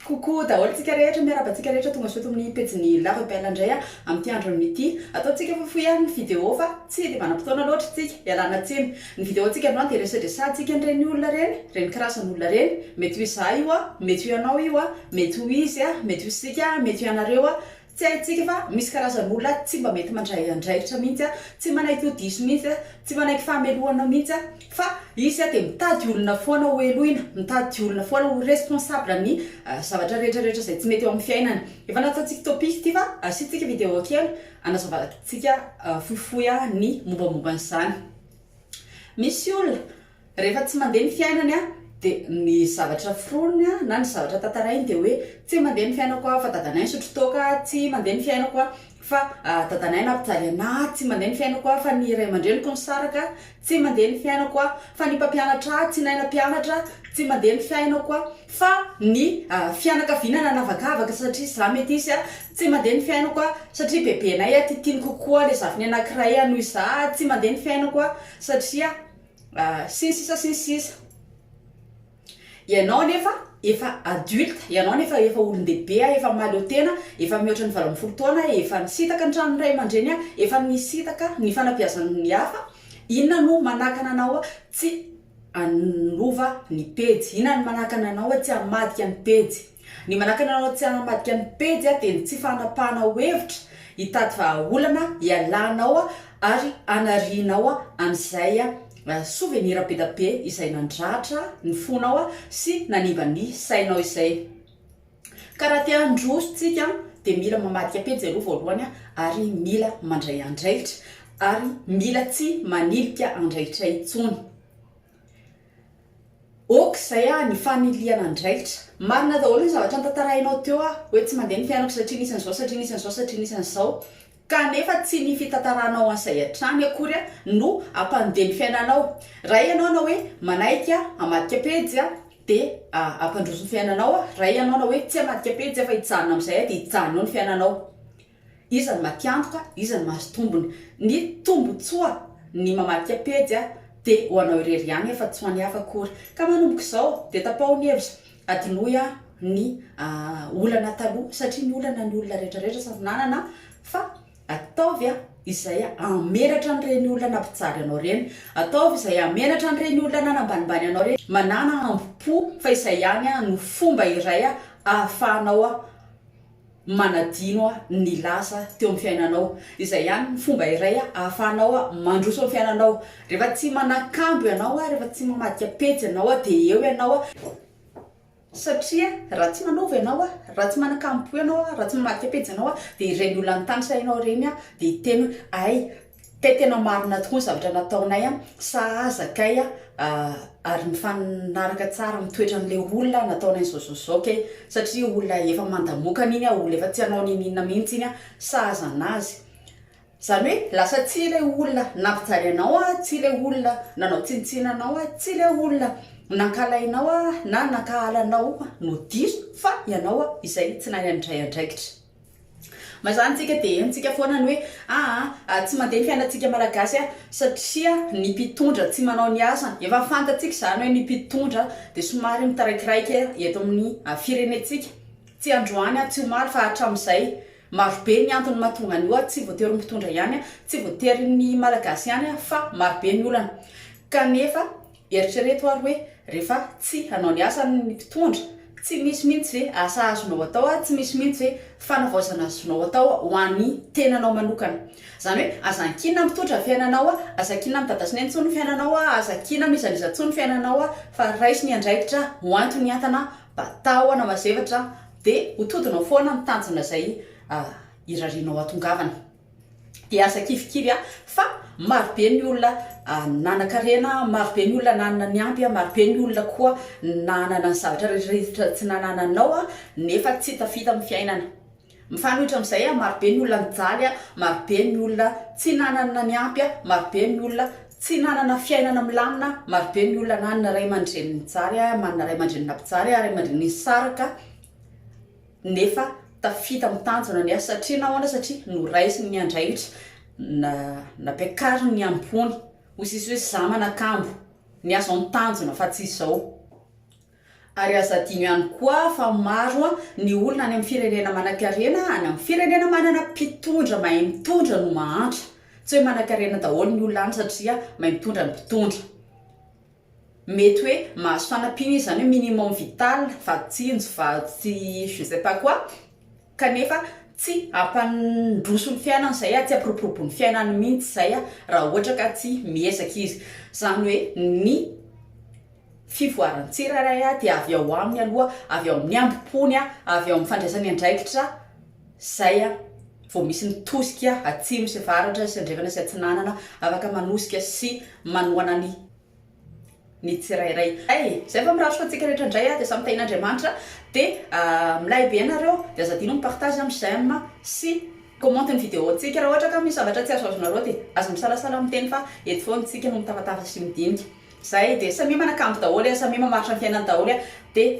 Coucou daholo tsika rehetra, miarahaba antsika rehetra tonga soa eto amin'ny pejin'ny La Rebelle indray a, amin'ity andron'ny ity. Ataontsika fohifohy ary ny vidéo fa tsy dia manam-potoana loatra isika, ialana tsiny. Ny vidéo antsika androany dia resedrasantsika an'ireny olona ireny, ireny karazan'olona ireny, mety ho izaho io a, mety ho ianao io a, mety ho izy a, mety ho isika a, mety ho ianareo a, Tsy haintsika fa misy karazan'olona tsy mba mety mandray andraikitra mihitsy, tsy manaiky ho diso mihitsy, tsy manaiky fahamelohana mihitsy, fa izy dia mitady olona foana ho helohina, mitady olona foana ho responsable amin'ny zavatra rehetra rehetra izay tsy mety eo amin'ny fiainany. Efa nantsaintsika topic ity fa asiantsika video kely anazavantsika fohifohy ny mombamomba an'izany. Misy olona Rehefa tsy mandeha ny fiainany an, dia ny zavatra foroniny an, na ny zavatra tantarainy dia hoe, tsy mandeha ny fiainako an, fa dadanay nisotro toaka an, tsy mandeha ny fiainako an, fa dadanay nampijaly anà, tsy mandeha ny fiainako an, fa ny ray aman-dreniko nisaraka an, tsy mandeha ny fiainako an, fa ny mpampianatra ahy tsy nahay nampianatra an, tsy mandeha ny fiainako an, fa ny fianakaviana nanavakavaka satria izaho metisy an, tsy mandeha ny fiainako an, satria bebenay an titiany kokoa ilay zafiny anankiray an noho izaho an, tsy mandeha ny fiainako an, satria. sy ny sisa sy ny sisa. Ianao anefa efa adulte, ianao anefa efa olon-dehibe a, efa mahaleo tena, efa mihoatra ny valo ambin'ny folo taona, efa nisintaka ny tranon'ny ray aman-dreny a, efa nisintaka ny fanabeazan'ny hafa, inona no manakana anao tsy hanova ny pejy, inona no manakana anao tsy hamadika ny pejy. Ny manakana anao tsy hanamadika ny pejy dia ny tsy fanapahana ho hevitra, hitady vahaolana hialanao ary hanarianao an'izay souvenir be dia be izay nandratra ny fonao sy nanimba ny sainao izay. Ka raha te handroso tsika dia mila mamadika pejy aloha voalohany ary mila mandray andraikitra ary mila tsy manilika andraikitra intsony. Ok zay ah ny fanilihana andraikitra. Marina daholo ny zavatra notantarainao teo ah hoe tsy mandeha ny fianatra satria nisy an'izao satria nisy an'izao satria nisy an'izao kanefa tsy ny fitantaranao an'izay hatrany akory ah no hampandeha ny fiainanao raha ianao na hoe manaiky ah hamadika pejy ah dia hampandroso ny fiainanao ah raha ianao na hoe tsy hamadika pejy ah fa hijanona amin'izay ah dia hijanona eo ny fiainanao Iza no matiantoka, iza no mahazo tombony. Ny tombotsoa ny mamadika pejy dia ho anao irery ihany afa tsy ho an'ny hafa akory. Ka manomboka izao dia tapaho ny hevitra, adinoy ny olana taloha satria ny olana ny olona rehetra rehetra samy nanana fa ataovy izay hamenatra an'ireny olona nampijary anao ireny, ataovy izay hamenatra an'ireny olona nanambanimbany anao ireny. Manana hambom-po fa izay ihany no fomba iray ahafahanao manadino ny lasa teo amin'ny fiainanao. Izay ihany ny fomba iray ahafahanao mandroso ny fiainanao. Rehefa tsy manakambo ianao, rehefa tsy mamadika pejy ianao dia eo ianao. Satria raha tsy manaova ianao, raha tsy manakambo ianao, raha tsy mamadika pejy ianao dia ireny olona nitanisana anao ireny dia hiteny hoe hay Kay tena marina tokoa ny zavatra nataonay a, sahaza kay a, ary mifanaraka tsara amin'ny toetran'ilay olona nataonay zao zao zao kay, satria olona efa mandamokana iny a, olona efa tsy hanao niniana mihitsy iny a, sahaza anazy, zany hoe lasa tsia ilay olona nampijaly anao a, tsia ilay olona nanao tsinontsinona anao a, tsia ilay olona nankalainao a, na nankahala anao no diso fa ianao a izay tsy nahay nandray andraikitra. Mazàna antsika dia henontsika foana ny hoe aa tsy mandeha ny fiainantsika malagasy a! satria ny mpitondra tsy manao ny asany, efa fantatsika izany hoe ny mpitondra dia somary mitaraikiraika eto amin'ny firenentsika, tsy androany a, tsy omaly fa hatramin'izay, marobe ny antony mahatonga an'io a, tsy voatery ny mpitondra ihany a, tsy voatery ny malagasy ihany a, fa marobe ny olana kanefa Eritrereto ary hoe, rehefa tsy hanao ny asany ny mpitondra, tsy misy mihitsy ve asa azonao atao ary tsy misy mihitsy ve fanavaozana azonao atao ho an'ny tenanao manokana. Izany hoe, aza ankinina mitondra ny fiainanao a, aza ankinina mitady hasina intsony ny fiainanao a, aza ankinina mizalizà intsony ny fiainanao a, fa raiso ny andraikitra ho anton'ny hentana mba tahona mazevatra dia ho todinao foana ny tanjona izay irarianao hatongavana. dia aza kivikivy fa maro be ny olona nanan-karena, maro be ny olona nanana ny ampy, maro be ny olona koa nanana ny zavatra rehetra tsy nanananao nefa tsy tafita amin'ny fiainana. Mifanohitra amin'izay, maro be ny olona nijaly, maro be ny olona tsy nanana ny ampy, maro be ny olona tsy nanana fiainana milamina, maro be ny olona nanana ray aman-dreny nijaly, manana ray aman-dreny nampijaly, ray aman-dreny nisaraka. nefa tafita amin'ny tanjona ny asa satria nahoana satria noraisiny ny andraikitra na nampiakariny ny ambony hoy sisa hoe za manakambo ny azo amin'ny tanjona fa tsy izao ary aza adino ihany koa fa maro ny olona any amin'ny firenena manankarena any amin'ny firenena manana mpitondra mahay mitondra no mahantra tsy hoe manankarena daholo ny olona any satria mahay mitondra ny mpitondra mety hoe mahazo fanampiana izy, izany hoe minimum vital, vadintsinjo, vatsy je sais pas quoi, kanefa tsy hampandroso ny fiainany izay an, tsy hampiroborobo ny fiainany mihitsy izay an, raha ohatra ka tsy miezaka izy, izany hoe ny fivoaran'ny tsirairay dia avy ao aminy aloha, avy ao amin'ny hambom-pony, avy ao amin'ny fandraisany andraikitra. Izay a! vao misy ny tosika atsimo sy avaratra sy andrefana sy atsinanana afaka manosika sy manohana ny ny tsirairay. Hay! Izay fa miratro fa antsika rehetra indray a dia samy tahin'Andriamanitra dia milay be ianareo dia aza adino mi-partage a mi-j'aime a sy mi-commente ny video-ntsika raha ohatra ka misy zavatra tsy azo azonareo dia aza misalasala miteny fa eto foana isika no mitafatafatra sy midinika. Izay dia samia manakambo daholo a samia mamaritra ny fiainany daholo a dia